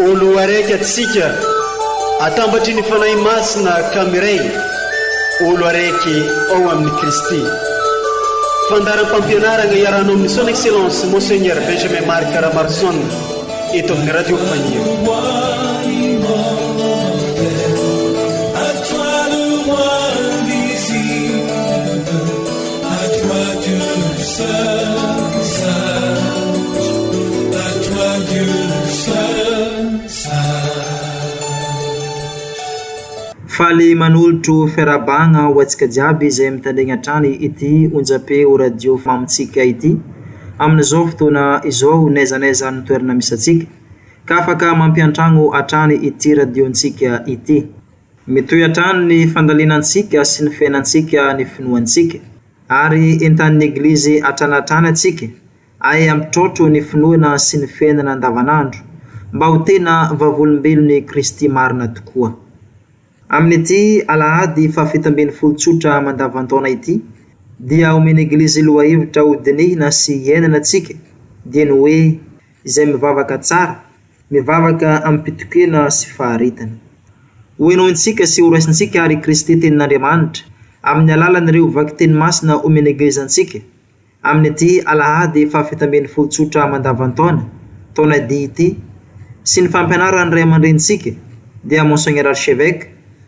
O Loharaiky atsika, atambatry ny Fanahy Masina ka miray, O Loharaiky ao amin'i Kristy. Fandaharam-pampianarana iarahanao amin'ny Son Excellence Monseigneur Benjamin Marc Ramarson eto amin'ny Radio Faniro. Faly manolotro fiarahabagna ho antsika jiaby izay mitandregny hatrany ity onjam-peo radio mamintsika ity amin'izao fotoana izao n'aiza n'aiza ny toerana misy antsika ka afaka mampiantragno hatrany ity radio-ntsika ity. Mitohy hatrany ny fandalinantsika sy ny fiainantsika ny finoantsika, ary entan'ny Eglizy hatrany hatrany antsika ay hampitraotro ny finoana sy ny fiainana andavanandro mba ho tena vavolombelon'i Kristy marina tokoa. Amin'ity Alahady fahafito ambin'ny folo tsotra mandavan-taona ity dia omen'ny Eglizy lohahevitra ho dinihina sy iainana antsika, dieny hoe, Izay mivavaka tsara, Mivavaka amim-pitokiana sy faharetana. Hohenointsika sy horaisintsika àry i Kristy Tenin'Andriamanitra, amin'ny alalan'ireo vakiteny masina omen'ny Eglizy antsika, amin'ity Alahady fahafito ambin'ny folo tsotra mandavan-taona, taona D ity, sy ny fampianaran'ny Ray aman-drenintsika, dia Monseigneur Archevêque,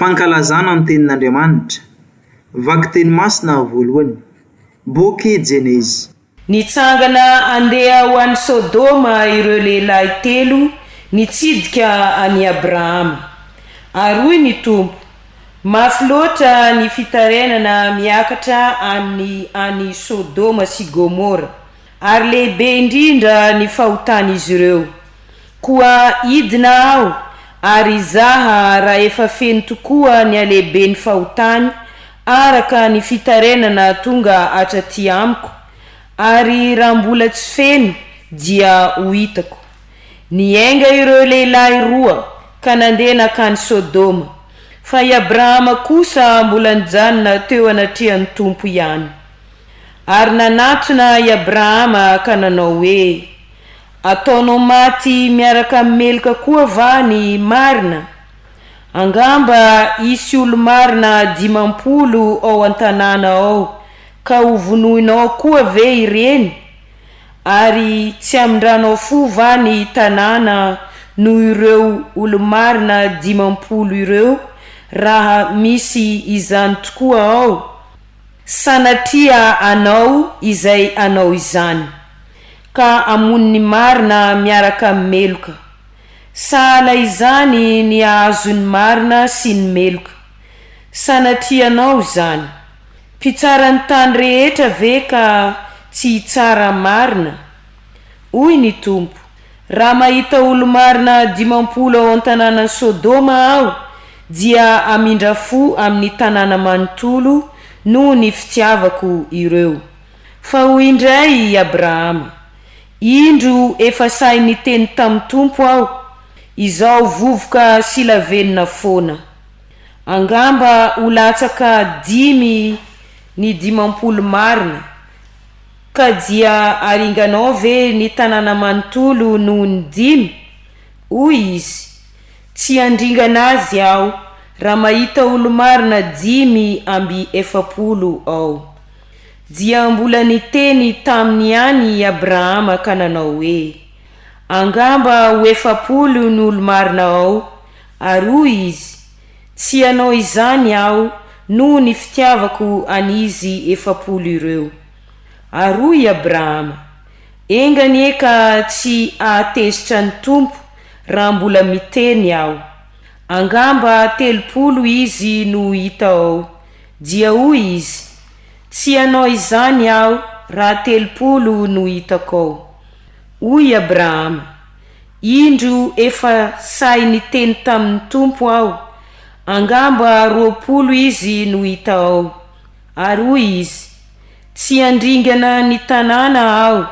Fankalazana ny tenin'Andriamanitra. Vakiteny masina voalohany. Boky Jeneza. Nitsangana handeha ho any Sodoma ireo lehilahy telo nitsidika an'i Abrahama. Ary hoy ny Tompo, Mafy loatra ny fitarainana miakatra any any Sodoma sy Gomora, ary lehibe indrindra ny fahotan'izy ireo. Koa hidina aho, ary hizaha raha efa feno tokoa ny halehiben'ny fahotany araka ny fitarainana tonga hatraty amiko, ary raha mbola tsy feno, dia ho hitako. Niainga ireo lehilahy roa ka nandeha nankany Sodoma, fa i Abrahama kosa mbola nijanona teo anatrehan'ny Tompo ihany. Ary nanatona i Abrahama ka nanao hoe, Ataonao maty miaraka amin'ny meloka koa va ny marina? Angamba hisy olo-marina dimampolo ao an-tanàna ao, ka hovonoinao koa ve ireny? Ary tsy hamindranao fo va ny tanàna noho ireo olo-marina dimampolo ireo, raha misy izany tokoa ao? Sanatria hanao izay hanao izany. ka hamono ny marina miaraka amin'ny meloka. Sahala izany ny hahazo ny marina sy ny meloka. Sanatrianao izany. Mpitsaran'ny tany rehetra ve ka tsy hitsara marina? Hoy ny Tompo, Raha mahita olo-marina dimampolo ao an-tanànan'i Sodoma Aho, dia hamindra fo amin'ny tanàna manontolo noho ny fitiavako ireo. Fa hoy indray i Abrahama, Indro efa sahy niteny tamin'ny Tompo aho, izao vovoka sy lavenona foana. Angamba ho latsaka dimy ny dimampolo marina, ka dia aringanao ve ny tanàna manontolo noho ny dimy? Hoy izy, Tsy handringana azy aho, raha mahita olo-marina dimy amby efapolo ao. Dia mbola niteny taminy ihany i Abrahama ka nanao hoe, Angamba ho efapolo ny olo-marina ao, ary hoy izy, Tsy hanao izany aho noho ny fitiavako an'izy efapolo ireo. Ary hoy i Abrahama, Enga anie ka tsy hahatezitra ny Tompo raha mbola miteny aho. Angamba telopolo izy no hita ao. Dia hoy izy, Tsy hanao izany aho raha telopolo no hitako ao. Hoy i Abrahama, Indro efa sahy niteny tamin'ny Tompo aho, Angamba roapolo izy no hita ao. Ary hoy izy, Tsy handringana ny tanàna aho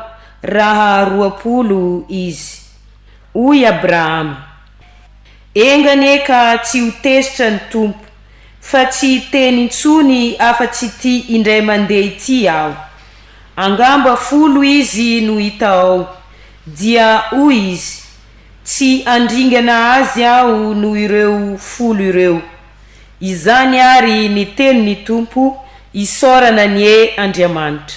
raha roapolo izy. Hoy Abrahama, Enga anie ka tsy ho tezitra ny Tompo, fa tsy hiteny intsony afa-tsy ity indray mandeha ity aho. Angamba folo izy no hita ao. Dia hoy izy, Tsy handringana azy aho noho ireo folo ireo. Izany àry ny tenin'ny Tompo, isaorana anie Andriamanitra.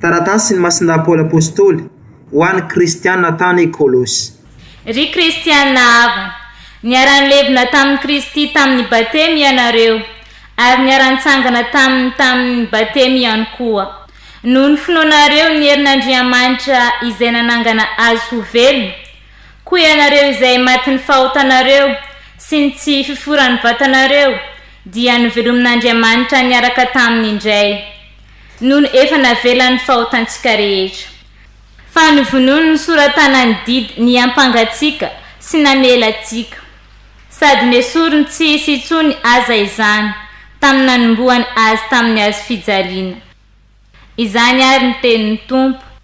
Taratasin'i Masina Paoly Apostoly ho an'ny Kristiana tany Kolosy. Ry Kristiana havana, niara-nilevina tamin'i Kristy tamin'ny Batemy ianareo, ary niara-nitsangana taminy tamin'ny Batemy ihany koa. Noho ny finoanareo ny herin'Andriamanitra izay nanangana Azy ho velona, koa ianareo izay matin'ny fahotanareo sy ny tsy fiforan'ny vatanareo dia novelomin'Andriamanitra niaraka taminy indray. Nony efa navelany ny fahotantsika rehetra. Fa novonoiny nisoratana ny didy niampanga antsika sy namela antsika. Sady nesoriny tsy hisy intsony aza izany tamin'ny nanombohany azy tamin'ny hazo fijaliana. Izany ary ny tenin'ny Tompo.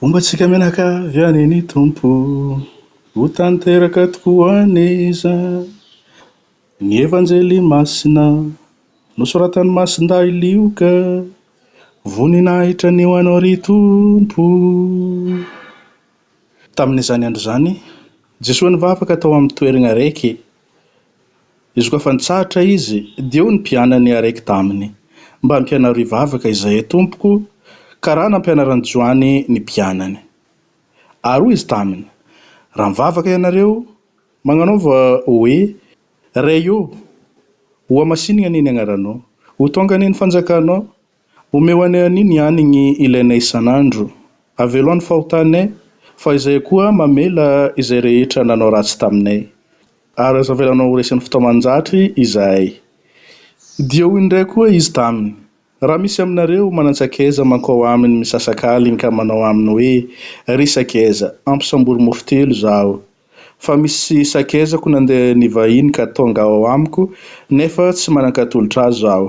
Homba antsika menaka avy any ny Tompo, ho tanteraka tokoa anie izany. Ny Evanjely Masina nosoratan'i Masindahy Lioka, Voninahitra ny ho Anao ry Tompo o. Tamin'izany andro izany, Jesoa nivavaka tao amin'ny toeragna raiky. Izy koa fa nitsahatra izy, dia hoy ny mpianany araiky taminy, Mba ampianaro hivavaka izahay, Tompoko, ka raha nampianaran'i Joany ny mpianany. Ary hoy izy taminy, Raha mivavaka ianareo, magnanaova hoe, Ray ô, hohamasinigna anie ny agnaranao, ho tonga anie ny fanjakanao, Omeo anay anio ny hanigny ilainay isan'andro. Avelo any fahotanay, fa izahay koa mamela izay rehetra nanao ratsy taminay. Ary aza avelanao ho resin'ny fitaoman-jatry izahay. Dia hoy indray koa izy taminy, Raha misy aminareo manan-tsakaiza mankao aminy misasak'aliny ka manao aminy hoe, Ry sakaiza, ampisambory mofo telo izaho. Fa misy sakaizako nandeha nivahiny ka tonga ao amiko, nefa tsy manan-katolotr'azy aho.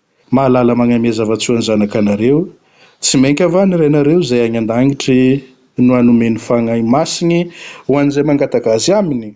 Mahalala magnamia zavatsoa ny zanakanareo, tsy mainka va ny Rainareo izay agny an-dagnitry no hanome ny fagnahy masigny ho an'izay mangataka Azy aminy?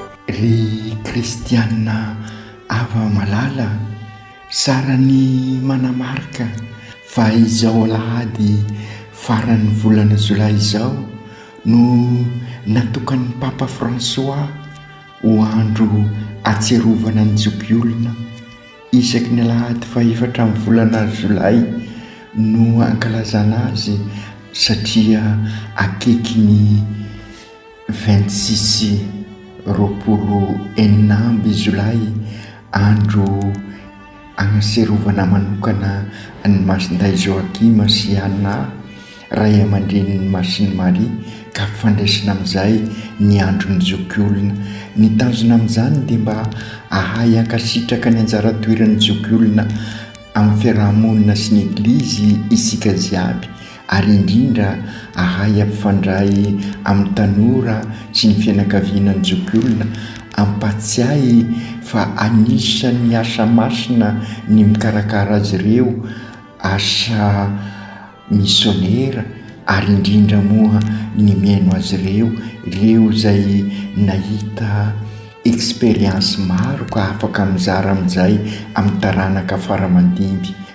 Ry kristiana ava malala, tsara ny manamarika fa izao alahady faran'ny volana jolay izao no natokan'ny Papa Fransoà ho andro ahatsiarovana ny zokiolona. Isaky ny alahady fahefatra amin'ny volana jolay no ankalazana azy satria akaiky ny. Vingt-six, roapolo enina amby Jolay, andro agnaserovana manokana an'i Masindahy Joachim sy Anna, ray aman-drenin'i Masiny Marie, ka fandraisina amin'izay ny andron'ny zokiolona. Ny tanjona amin'izany dia mba hahay hankasitraka ny anjara toeran'ny zokiolona amin'ny fiaraha-monina sy ny Eglizy isika jiaby. ary indrindra ahay ampifandray amin'ny tanora sy ny fianakaviana ny zokiolona, ampahatsiahy fa anisan'ny asa masina ny mikarakara azy ireo, asa misionera ary indrindra moa ny mihaino azy ireo, ireo izay nahita expérience maro ka afaka mizara amin'izay amin'ny taranaka fara aman-dimby.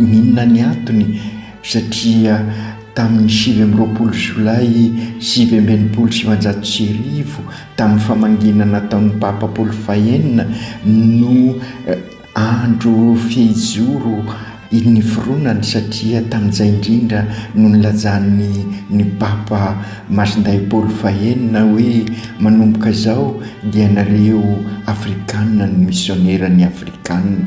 Inona ny antony? Satria tamin'ny sivy amby roapolo Jolay sivy amby enimpolo sy sivinjato sy arivo, tamin'ny famangiana nataon'ny Papa Paoly fahenina, no andro fehizoro niforonany, satria tamin'izay indrindra no nilajan'ny ny Papa Masindahy Paoly fahenina hoe, Manomboka izao dia ianareo Afrikana no misionera ny Afrikana.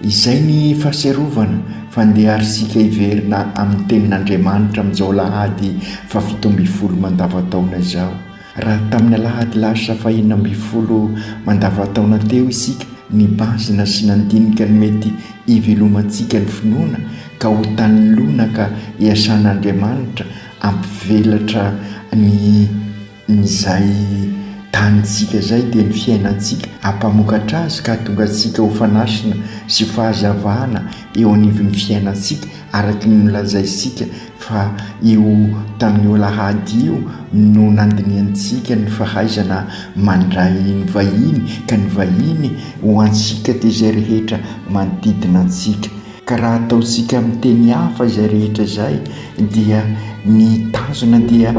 Izay ny fahatsiarovana fa ndeha ary isika hiverina amin'ny Tenin'Andriamanitra amin'izao alahady fahafito ambin'ny folo mandavantaona izao. Raha tamin'ny alahady lasa fahenina ambin'ny folo mandavantaona teo isika nibazina sy nandinika ny mety hivelomantsika ny finoana ka ho tany lonaka iasan'Andriamanitra hampivelatra ny Izay tanintsika izay dia ny fiainantsika hampamokatra azy ka hahatonga antsika ho fanasina sy ho fahazavana eo anivon'ny fiainantsika araka ny nolazaintsika fa io tamin'io alahady io no nandinihantsika ny fahaizana mandray ny vahiny ka ny vahiny ho antsika dia izay rehetra manodidina antsika. Ka raha ataontsika amin'ny teny hafa izay rehetra izay dia ny tanjona dia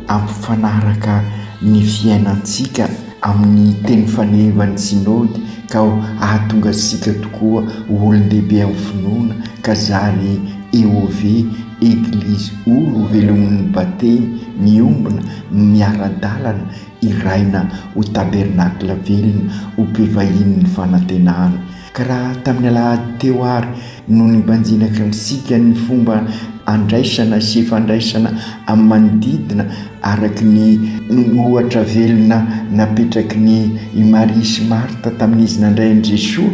hampifanaraka ny fiainantsika amin'ny teny fanehevan'ny Synody ka ho hahatonga antsika tokoa ho olon-dehibe amin'ny finoana ka zary EOV, Eglizy Olo velomin'ny Batemy miombona, miara-dalana, hiraina ho tabernacle velona, ho mpivahinin'ny fanantenana. Ka raha tamin'ny alahady teo ary no nibanjinaka ny sikan'ny fomba andraisana sy fandraisana amin'ny manodidina araka ny ohatra velona napetraky ny i Maria sy Marta tamin'izy nandray an'i Jesoa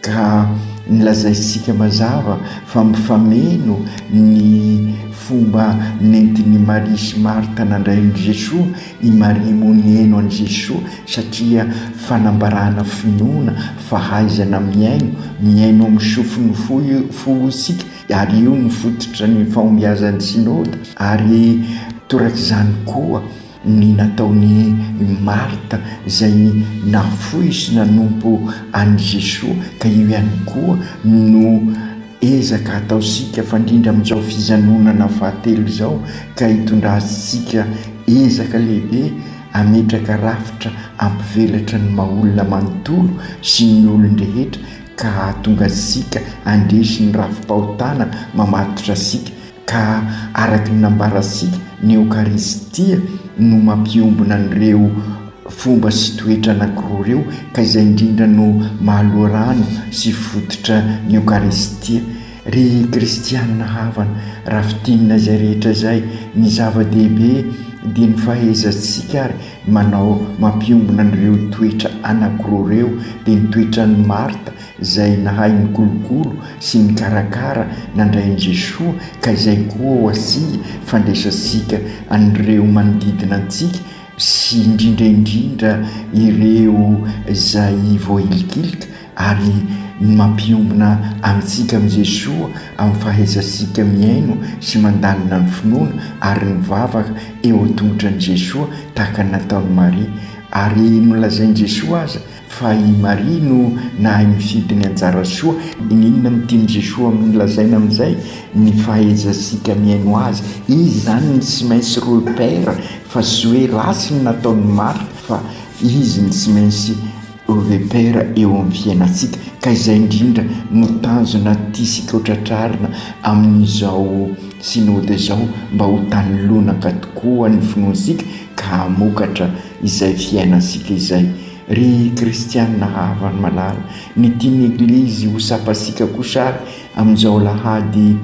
ka nilazainsika mazava fa mifameno ny fomba nentin'i Maria sy Marta nandray an'i Jesoa I Maria moa nihaino an'i Jesoa satria fanambarana finoana, fahaizana mihaino, mihaino amin'ny sofin'ny fo fo isika ary io no fototra ny fahombiazan'ny Synoda ary torak'izany koa ny nataon'i Marthe izay nafoy sy nanompo an'i Jesoa ka io ihany koa no Ezaka ataontsika fandrindra amin'izao fijanonana fahatelo izao ka hitondrantsika ezaka lehibe hametraka rafitra hampivelatra ny maha-olona manontolo sy ny olon-drehetra ka hahatonga antsika handresy ny rafi-pahotana mamatotra antsika Ka araka ny nambarantsika, ny Eokaristia no mampiombona an'ireo fomba sy toetra anankiroa ireo, ka izay indrindra no maha-loharano sy fototra ny Eokaristia. Ry kristiana havana, raha fintinina izay rehetra izay, ny zava-dehibe dia ny fahaizantsika ary manao mampiombona an'ireo toetra anankiroa ireo, dia ny toetran'i Marta, Izay nahay nikolokolo sy nikarakara nandray an'i Jesoa ka izay koa ho antsika fandraisantsika an'ireo manodidina antsika sy indrindra indrindra ireo izay voahilikilika ary ny mampiombona antsika amin'i Jesoa amin'ny fahaizantsika mihaino sy mandalina ny finoana ary nivavaka eo an-tongotran'i Jesoa tahaka ny nataon'i Maria ary nolazain'i Jesoa aza Fa i Maria no nahay mifidy ny anjara soa. Inona no tian'i Jesoa amin'ny lazaina amin'izay? Ny fahaizantsika mihaino Azy. Izy izany ny tsy maintsy repère fa tsy hoe ratsy ny nataon'i Marthe fa Izy ny tsy maintsy repère eo amin'ny fiainantsika. Ka izay indrindra no tanjona tiantsika ho tratrarina amin'izao Synode izao mba ho tany lonaka tokoa ny finoantsika, ka hamokatra izay fiainantsika izay. Ry kristianina havany malala, ny tian'ny Eglizy ho tsapantsika kosa ary amin'izao alahady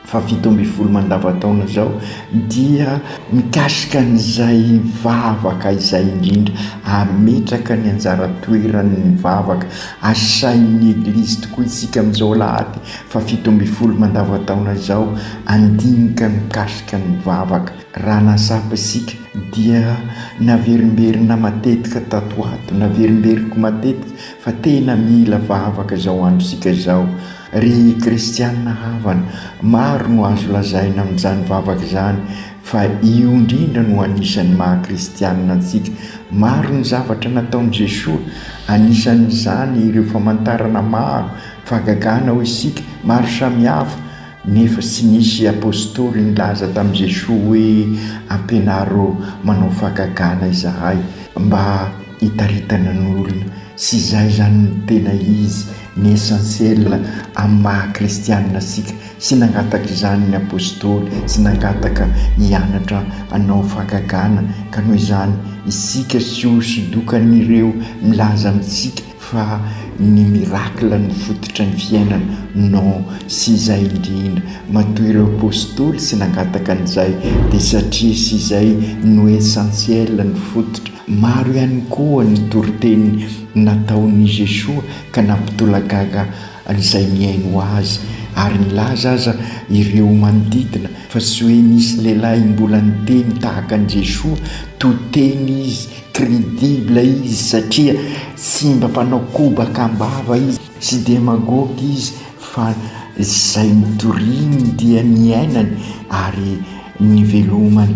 fahafito ambin'ny folo mandavantaona izao dia mikasika an'izay vavaka izay indrindra, hametraka ny anjara toerany ny vavaka asain'ny Eglizy tokoa isika amin'izao alahady fahafito ambin'ny folo mandavantaona izao handinika mikasika ny vavaka. Raha nahatsapa isika dia naverimberina matetika tato ho ato, naverimberiniko matetika fa tena mila vavaka izao androntsika izao. Ry kristiana havana, maro no azo lazaina amin'izany vavaka izany fa io indrindra no anisan'ny maha kristiana antsika. Maro ny zavatra nataon'i Jesoa, anisan'izany ireo famantarana maro fahagagana ho isika, maro samihafa. Nefa tsy nisy apostoly nilaza tamin'i Jesoa hoe, Ampianaro manao fahagagana izahay mba hitaritana ny olona. Tsy izay izany no tena izy, ny essentiel amin'ny maha-kristiana antsika. Tsy nangataka izany ny apostoly, tsy nangataka hianatra hanao fahagagana. Ka noho izany, isika tsy hosodokany ireo milaza amintsika fa ny miracle no fototra ny fiainana, non sy izay indrindra, matoa ireo apostoly sy nangataka an'izay dia satria sy izay no essentiel no fototra, maro ihany koa ny toriteny nataon'i Jesoa ka nampitolagaga an'izay mihaino Azy, ary nilaza aza ireo manodidina fa sy hoe nisy lehilahy mbola niteny tahaka an'i Jesoa, to teny izy Credible izy satria tsy mba mpanao kobaka am-bava izy, tsy demagogue izy fa izay nitoriany dia niainany ary nivelomany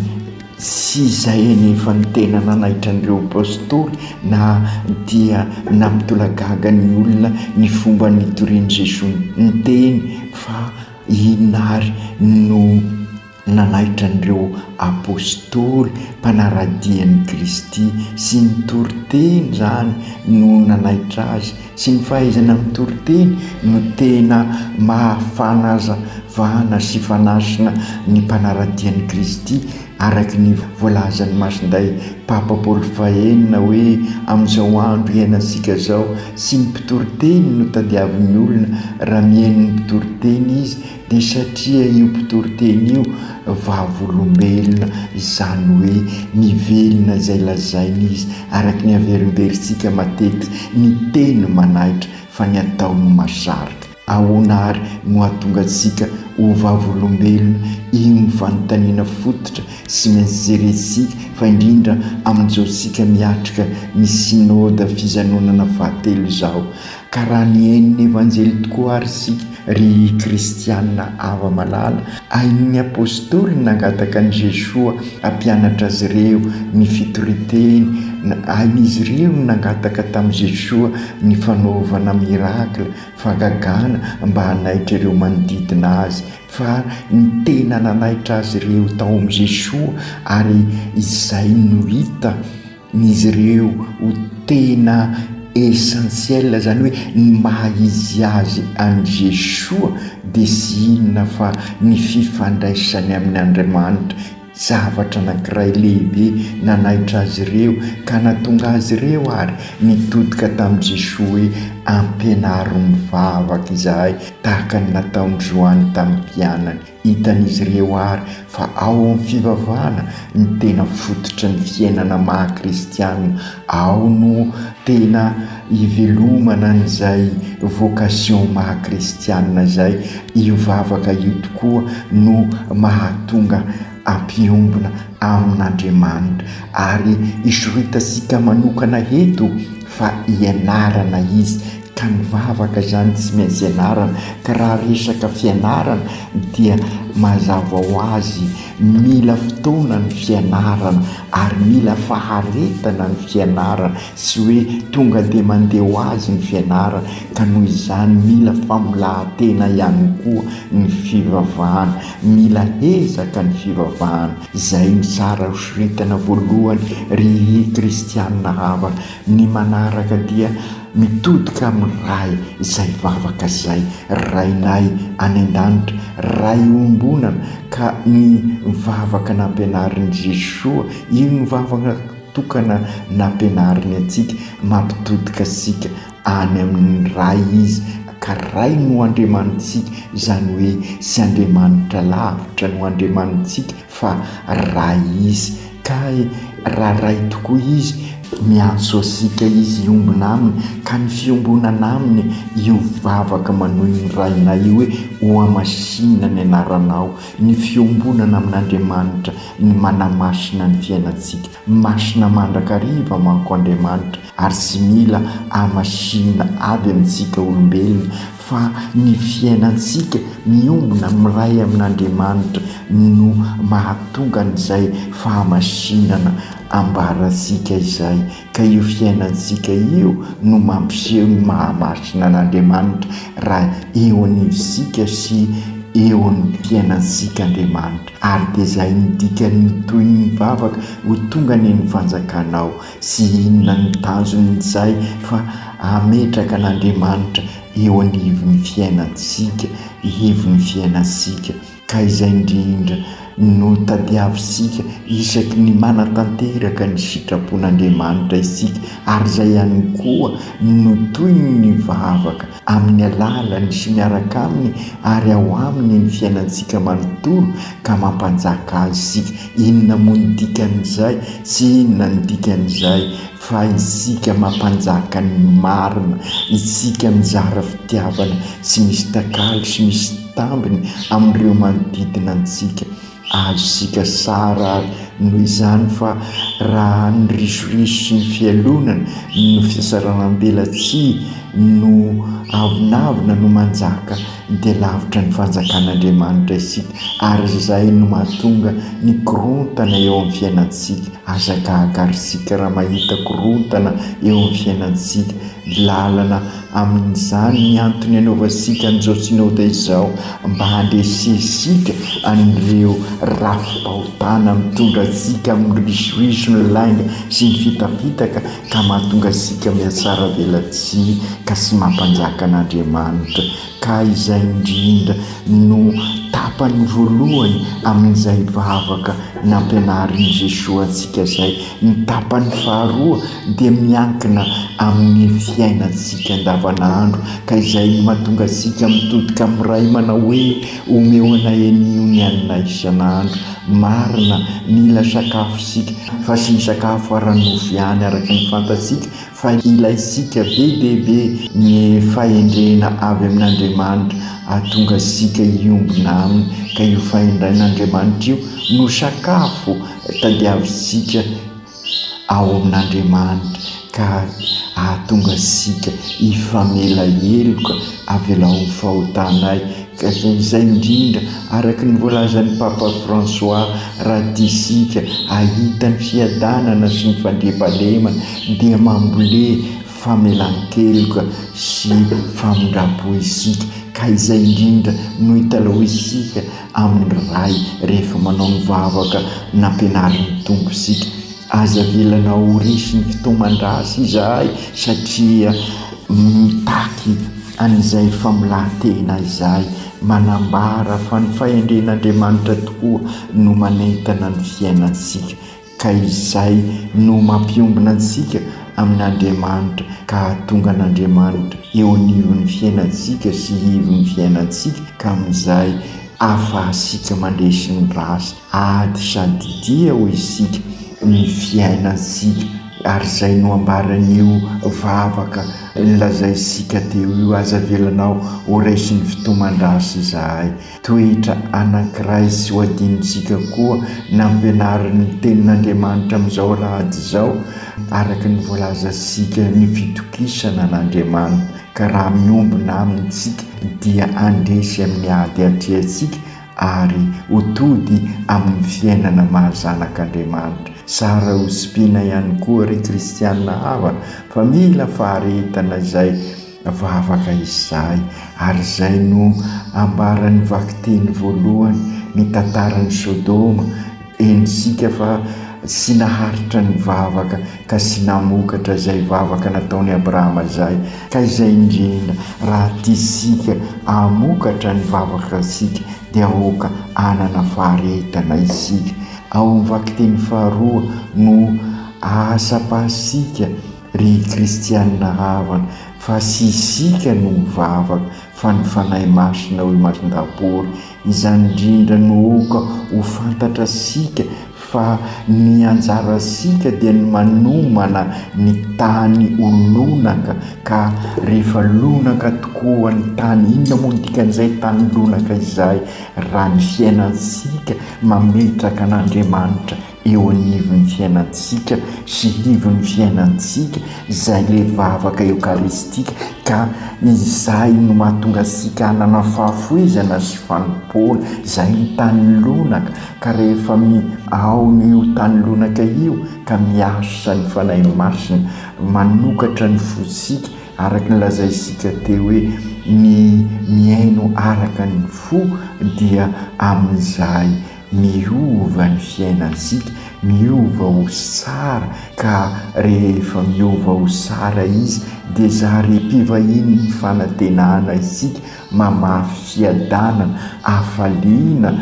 sy izay anefa no tena nanaitra an'ireo Apostoly na dia nampitolagaga ny olona ny fomba nitorian'i Jesoa niteny fa inona ary no Nanaitra an'ireo Apostoly mpanara-dia an'i Kristy sy ny toriteny izany no nanaitra azy, sy ny fahaizana amin'ny toriteny no tena maha-fanazavana sy fanasina ny mpanara-dia an'i Kristy, araka ny voalazan'i Masindahy Papa Paoly fahenina hoe, Amin'izao andro iainantsika izao, tsy ny mpitoriteny no tadiavin'ny olona, raha mihaino ny mpitoriteny izy, Dia satria io mpitoriteny io vavolombelona, izany hoe mivelona izay lazainy izy, araka ny averimberintsika matetika, ny teny manaitra fa ny atao no mahasarika. Ahoana àry no hahatonga antsika ho vavolombelona? Io no fanontaniana fototra sy maintsy jerentsika, fa indrindra amin'izao isika miatrika ny Synoda fijanonana fahatelo izao. Ka raha nihainon'ny Evanjely tokoa ary isika, ry kristiana hava-malala, hainon'ny Apostoly ny nangataka an'i Jesoa hampianatra azy ireo ny fitorian-teny, hain'izy ireo ny nangataka tamin'i Jesoa ny fanaovana miracle, fagagana, mba hanaitra ireo manodidina azy, fa ny tena nanaitra azy ireo tao amin'i Jesoa ary izay no hita, n'izy ireo ho tena essentiel zany hoe ny maha izy azy an'i Jesoa dia tsy inona fa ny fifandraisany amin' Andriamanitra, zavatra anankiray lehibe nanaitra azy ireo ka natonga azy ireo ary nitodika tamin'i Jesoa hoe ampianaro mivavaka izahay tahaka ny nataon'i Joany tamin'ny mpianany. Hitan'izy ireo àry fa ao amin'ny fivavahana no tena fototry ny fiainana maha kristiana, ao no tena ivelomana an'izay vocation maha kristiana izay. Io vavaka io tokoa no mahatonga hampiombona amin'Andriamanitra. Ary i Shrutasika manokana eto fa ianarana izy. Ka ny vavaka izany tsy maintsy ianarana, ka raha resaka fianarana dia mazava ho azy mila fotoana ny fianarana ary mila faharetana ny fianarana, tsy hoe tonga dia mandeha ho azy ny fianarana, ka noho izany mila famolahan-tena ihany koa ny fivavahana, mila ezaka ny fivavahana, izay no tsara hosoritana voalohany ry Kristianina havana, ny manaraka dia Mitodika amin'ny Ray izay vavaka izay, Rainay any An-danitra, Ray iombonana, ka ny vavaka nampianarin'i Jesoa, io no vavaka tokana nampianariny antsika, mampitodika antsika any amin'ny Ray Izy, ka Ray no Andriamanitsika, izany hoe tsy Andriamanitra lavitra no Andriamanitsika, Fa Ray izy, kay raha Ray tokoa izy, miantso asika izy hiombona aminy, ka ny fiombonana aminy io vavaka manohy ny Rainay io hoe, Hohamasinina ny anaranao, ny fiombonana amin'Andriamanitra ny manamasina ny fiainantsika, masina mandrakariva manko Andriamanitra, ary tsy mila hamasinina avy amintsika olombelona, fa ny fiainantsika miombona miray amin'Andriamanitra no mahatonga an'izay fahamasinana ambarantsika izay, ka io fiainantsika io no mampiseho ny mahamasina an'Andriamanitra raha eo anivontsika sy eo amin'ny fiainantsika Andriamanitra, ary dia izay no dikan'ny tohin'ny vavaka, Ho tonga anie ny fanjakanao. Tsy inona ny tanjon'izay fa hametraka an'Andriamanitra eo anivon'ny fiainantsika, ivon'ny fiainantsika. Ka izay indrindra no tadiavintsika isaky ny manatanteraka ny sitrapon'Andriamanitra isika, ary izay ihany koa no tohin'ny vavaka amin'ny alalany sy miaraka aminy ary ao aminy ny fiainantsika manontolo ka mampanjaka azy isika, inona moa ny dikan'izay? tsy inona ny dikan'izay fa isika mampanjaka ny marina, isika mizara fitiavana tsy misy takalo sy misy tambiny amin'ireo manodidina antsika, Azontsika sary ary noho izany fa raha ny risoriso sy ny fialonana no fisasaram-belatsihy no avonavona no manjaka dia lavitra ny fanjakan'Andriamanitra isika ary izay no mahatonga ny korontana eo amin'ny fiainantsika. Aza gaga ry isika raha mahita korontana eo amin'ny fiainantsika, lalana Amin'izany ny antony anaovantsika an'izao Synoda izao mba handresensika an'ireo rafi-pahotana mitondra antsika amin'ny risoiso ny lainga sy ny fitapitaka ka mahatonga antsika mihatsara velatsihy ka tsy mampanjaka an'Andriamanitra ka izay indrindra no tapany voalohany amin'izay vavaka nampianarin'i Jesoa antsika izay ny tapany faharoa dia miankina amin'ny fiainantsika andavanandro ka izay no mahatonga antsika mitodika amin'ny Ray manao hoe, Omeo anay anio ny haninay isan'andro. Marina, mila sakafo isika, fa tsy ny sakafo ara-nofo ihany araka ny fantatsika fa ilaintsika be dia be ny fahendrena avy amin'Andriamanitra hahatonga antsika hiombona aminy ka io fahendren'Andriamanitra io no sakafo tadiavintsika. ao amin'Andriamanitra ka hahatonga antsika hifamela heloka avy eo amin'ny fahotanay ka izay indrindra araka ny voalazan'i Papa Fransoà raha tiantsika hahita ny fiadanana sy ny fandriampahalemana dia mamboly famelan-keloka sy famindram-po isika ka izay indrindra no hitalahoantsika amin'ny Ray rehefa manao ny vavaka nampianarin'ny Tompo isika. Aza avelana ho resy ny fitaoman-drahasy izahay satria mitaky an'izay famolahan-tena izay. Manambara fa ny fahendren'Andriamanitra tokoa no manentana ny fiainantsika. ka izay no mampiombona antsika amin' Andriamanitra ka hahatonga an' Andriamanitra eo anivon' ny fiainantsika sy ivon' ny fiainantsika ka amin' izay ahafahantsika mandresy ny ratsy ady sady tia hoy isika ny fiainantsika ary izay no ambaran' io vavaka nolazaintsika teo io aza avelanao ho resy ny fitoman-dratsy izahay. Toetra anankiray tsy ho adinontsika koa nampianarin'ny Tenin'Andriamanitra amin'izao alahady izao, araka ny voalazantsika, ny fitokisana an'Andriamanitra, ka raha miombona Aminy isika dia handresy amin'ny ady hatrehantsika ary ho tody amin'ny fiainana maha zanak'Andriamanitra. Tsara hotsipiana ihany koa, ry kristiana havana, fa mila faharetana izay. Vavaka izahay, ary izay no ambaran'ny vakiteny voalohany nitantaran'i Sodoma, Henontsika fa tsy naharitra ny vavaka ka tsy namokatra izay vavaka nataon'i Abrahama izay, ka izay indrindra, raha tiantsika hamokatra ny vavakantsika, dia aoka hanana faharetana isika. Ao amin'ny vakiteny faharoa no ahatsapàntsika Ry kristianina havana, fa tsy isika no mivavaka, fa ny Fanahy Masina, hoy Masindabory. Izany indrindra no oka ho fantatrasika fa ny anjarantsika dia ny manomana ny tany ho lonaka ka rehefa lonaka tokoa ny tany, inona moa ny dikan'izay tany lonaka izay? raha ny fiainantsika mametraka an'Andriamanitra eo anivon'ny fiainantsika sy ivon'ny fiainantsika izay ilay vavaka eokaristika ka izay no mahatonga antsika hanana fahafoizana sy fanompoana izay ny tany lonaka ka rehefa mi ao no io tany lonaka io ka miasa ny Fanahy Masina manokatra ny fontsika araka ny lazaintsika teo hoe ny mihaino araka ny fo dia amin'izay Miova ny fiainantsika, miova ho tsara ka rehefa miova ho tsara izy dia zary mpivahiny ny fanantenana isika mamafy fiadanana, hafaliana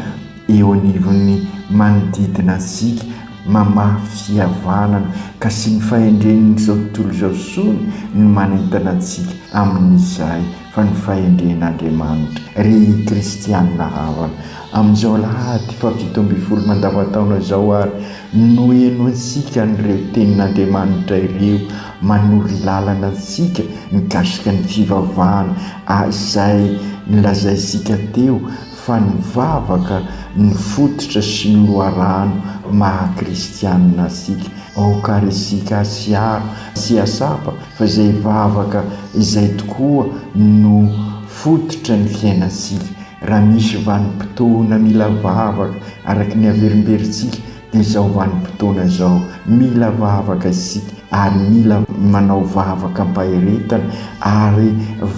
eo anivon'ny manodidina antsika, mamafy fihavanana ka sy ny fahendren'izao tontolo izao sony ny manentana antsika amin'izay. fa ny fahendren'Andriamanitra. Ry kristiana havana, amin'izao alahady fahafito ambin'ny folo mandavantaona izao àry no henointsika an'ireo tenin'Andriamanitra ireo manoro lalana antsika mikasika ny fivavahana, izay nolazaintsika teo fa ny vavaka no fototra sy ny loharano maha kristiana antsika. Aoka àry isika hasiaro sy hahatsapa Fa izay vavaka izay tokoa no fototra ny fiainantsika. Raha misy vanim-potoana mila vavaka araka ny haverimberintsika dia izao vanim-potoana izao. Mila vavaka isika ary mila manao vavaka am-paheretana ary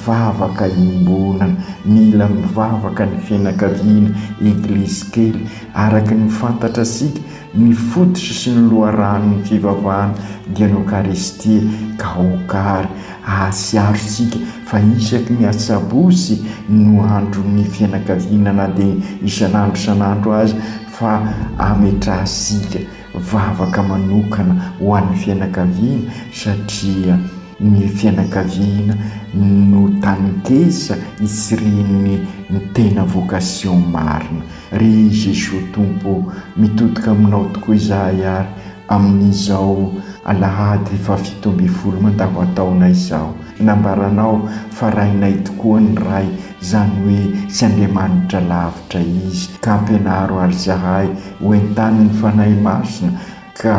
vavaka iombonana. Mila mivavaka ny fianakaviana, Eglizy kely, araka ny fantatrasika. Ny fototry sy ny loharanon'ny fivavahana dia ny Okaristia ka okary ahasiarontsika fa isaky ny asabotsy no andron'ny fianakaviana na dia isan'andro isan'andro aza fa ametrahantsika vavaka manokana ho an'ny fianakaviana satria Ny fianakaviana no taninkesa isirihan'ny ny tena vocation marina. Ry Jesoa Tompo ô, mitodika aminao tokoa izahay ary amin'izao alahady fahafito ambin'ny folo mandavan-taona izao. Nambaranao fa Rainay tokoa ny Ray, izany hoe tsy Andriamanitra lavitra Izy. Ka ampianaro ary izahay ho entanin'ny Fanahy Masina, ka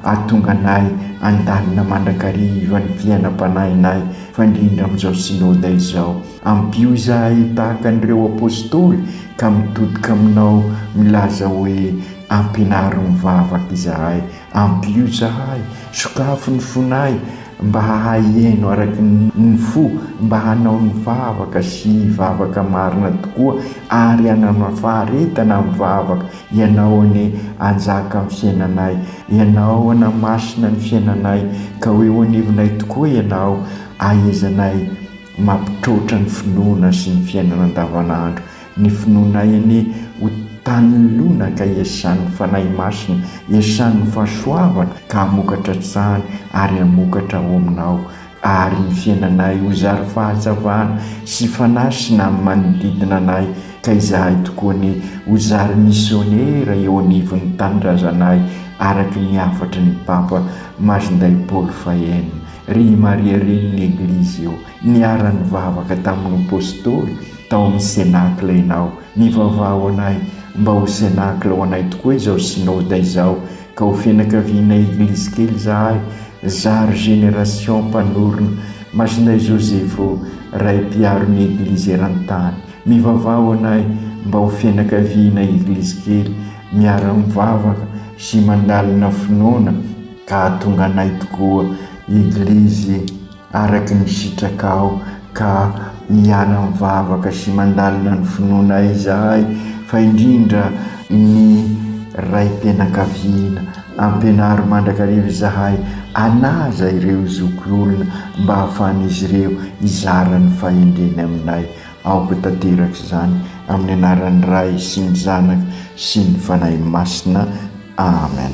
hahatonga anay handalina mandrakariva ny fiainam-panahinay fandrindra amin'izao Synoda izao. Ampio izahay ho tahaka an'ireo Apostoly ka mitodika aminao milaza hoe, Ampianaro mivavaka izahay. Ampio izahay, sokafo ny fonay mba hahay hihaino araka ny fo, mba hanao ny vavaka sy hivavaka marina tokoa ary hanana faharetana amin'ny vavaka Ianao anie hanjaka amin'ny fiainanay, Ianao hanamasina ny fiainanay, ka ho eo anivonay tokoa Ianao, hahaizanay mampitroatra ny finoana sy ny fiainana andavanandro. Ny finoanay anie ho tany lona ka hiasan'ny Fanahy Masina, hiasan'ny fahasoavana ka hamokatra hatrany ary hamokatra ao aminao. Ary ny fiainanay ho zary fahatsavana sy fanahy sy ny amin'ny manodidina anay, ka izahay tokoa anie ho zary misionera eo anivon'ny tanindrazanay araka ny hafatry ny Papa Majnday Paul Fahenina. Ry i Maria Reny ny Eglizy io, niara-nivavaka tamin'ny Apostoly tao amin'ny Cenacle ianao, mivavaha ho anay mba ho Cenacle ho anay tokoa izao Synoda izao, Ka ho fianakaviana eglise kely zahay zary génération mpanorina Masina Josepho ray mpiaro ny eglise erantany mivavaho anay mba ho fianakaviana eglise kely miara mivavaka sy mandalina finoana ka ahatonga anay tokoa eglise araka ny sitraka aho ka miala mivavaka sy mandalina ny finoana izahay fa indrindra ny raim-pianakaviana, ampianaro mandrakariva izahay hanaja ireo zoky olona mba hahafahan'izy ireo hizara ny fahendreny aminay. Aoka tanteraka izany amin'ny anaran'ny Ray sy ny Zanaka sy ny Fanahy Masina. Amen.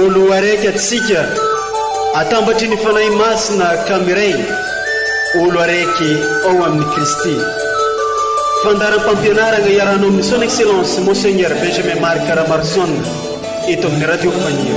Olo araiky atsika, atambatry ny Fanahy Masina ka miray, olo araiky ao amin'i Kristy. Fandaharam-pampianaragna iarahanao amin'ny Son Excellence Monseigneur Benjamin Marc Ramarson eto amin'ny Radio Fanilo.